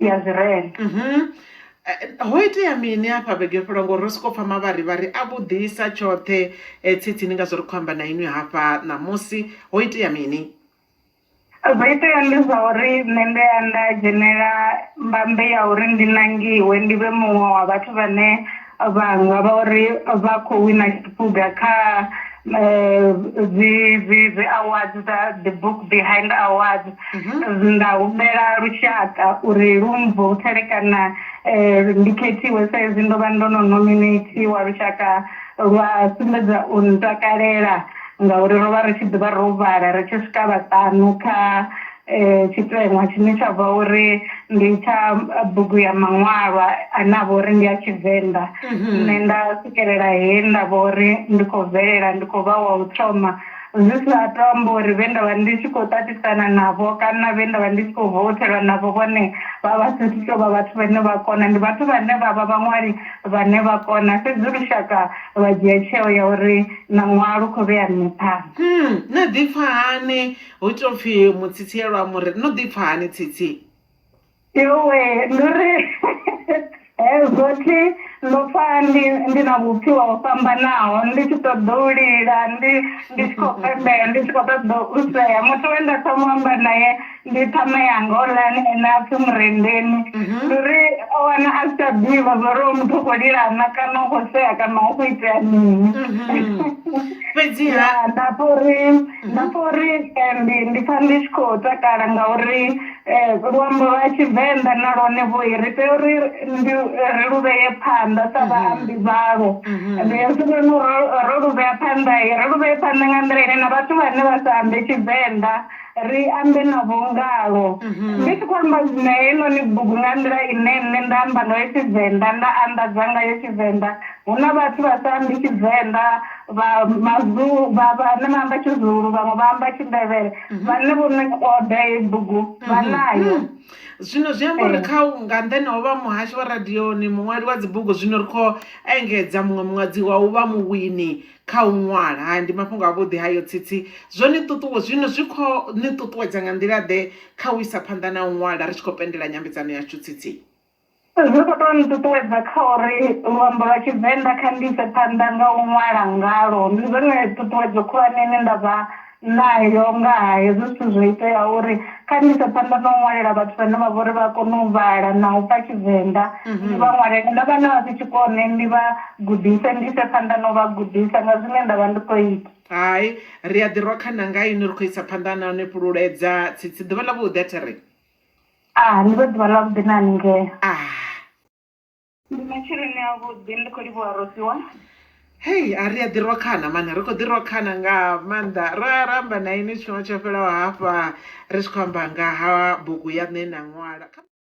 ya Zirele. Mhm. Eh, ho itea mini afha vhege yo fhelwa ngori ro soko pfa mavharivhari a vhuḓisa tshoṱhe eh, tsitsi ni nga zwo ri khou amba na inwi hafha ṋamusi ho itea mini zwo itea ndi zwa uri nṋe ndi ya nda dzhenela mbambe ya uri ndi nangiwe ndi vhe muṅwe wa vhathu vhane vha nga vha uri vha khou wina tshiphuga kha eh, dzi dzi dzi awards dza the book behind awards mhm. nda humbela lushaka uri lu mvoutele kana eh, ndi khethiwe sa izwi ndo vha ndo no nominatiwa lushaka lwa sumbedza u ntakalela ngauri ro vha ri tshi ḓivha ro vhala ri tshi swika vhaṱanu kha tshiteṅwa tshine tsha vha uri ndi tsha bugu ya maṅwalwa ane a vha uri ndi a tshivenḓa nṋe nda swikelela he nda vha uri ndi khou bvelela ndi khou vha wa u thoma zwi sa to amba uri vhe nda vha ndi tshi khou ṱaṱisana navho kana vhe nda vha ndi tshi khou vouthelwa navho vhone vha vha sa athu tovha vhathu vhane vha kona ndi vhathu vhane vha vha vhaṅwali vhane vha kona fhedzi lushaka lwa dzhia tsheo ya uri na ṅwaha lu kho vhea nṋe phanḓa. hu ita upfhi mutsitsielwa mu ri no ḓi pfha hani tsitsi yowe ndi ri hezwo thi ndo pfha ndi ndi na vhupfiwa ho fhambanaho ndi tshi ṱoḓa u lila ndi ndi tshi khou pembela ndi tshi khou ṱoḓa u sea muthu we nda thoma u amba naye ndi ṱhama yanga oḽani ene a pfhi murendeni mhm. ndi uri o wana a si tsha ḓivha zwo uri o muthu u khou lila na kana u khou sea kana u khou itea mini mhm. fhedziha nda pfha uri Nda pfha uri eh, ndi ndi pfha ndi tshi khou takala ngauri eh, luambo lwa tshivenḓa na lwone vhoi ri tea uri ndi ri lu vheye phanḓa sa vhaambi vhalo ende hezwinoni ro ro lu vhea phanḓa i ri lu vheye phanḓa nga nḓila ine na vhathu vhane vha sa ambe tshivenḓa ri ambe navho ngalo ndi tshi khou amba na heinoni bugu nga nḓila ine nṋe nda amba ngayo tshivenḓa nda anḓadza ngayo tshivenḓa Hu na vhathu vha sa ambi Tshivenḓa, vha Mazulu, vha vhane vha amba Tshizulu, vhaṅwe vha amba Tshindevhele. Vhane vho no oda heyi bugu vha nayo. Zwino zwi amba uri kha u, nga nṱhani ha u vha muhashi wa radioni, muṅwali wa dzibugu, zwino ri khou engedza muṅwe muṅadzi wa u vha muwini kha u ṅwala. Hai, ndi mafhungo avhuḓi hayo, Tsitsi! Zwo ni ṱuṱuwe, zwino zwi khou ni ṱuṱuwedza nga nḓila-ḓe kha u isa phanḓa na u ṅwala ri tshi khou pendela nyambedzano yashu, Tsitsi? Zwi kho to nṱuṱuwedza kha uri luambo lwa tshivenḓa kha ndi ise phanḓa nga u ṅwala ngalwo, ndi zwone ṱhuṱhuwedzo khulwane ine ndavha nayo nga ha hezwi zwithu zwo itea uri kha ndi ise phanḓa na u ṅwalela vhathu vhane vha vhori vha kone u vhala na u pfha tshivenḓa ndi vha ṅwalele na vhana vha si tshikone ndi vha gudise ndi ise phanḓa na u vha gudisa nga zwine nda vha ndi kho ita. Hai ri a ḓi rwa khana nga inwi ri khou isa phanḓa na u ni fhululedza tsitsi ḓuvha ḽa vhuḓi a thiri. Ah, ndi vho ḓuvha ḽa vhuḓi na haningei. Ah. Ndi matsheloni a vhuḓi ndi khou livhuwa rosiwa. Hey, a ri a ḓi rwa khana mani, ri khou ḓi rwa khana nga maanḓa. Ra ra amba na ini tshifhinga tsho fhelaho hafha ri tshi khou amba nga ha bugu ya nṋe na ṅwala.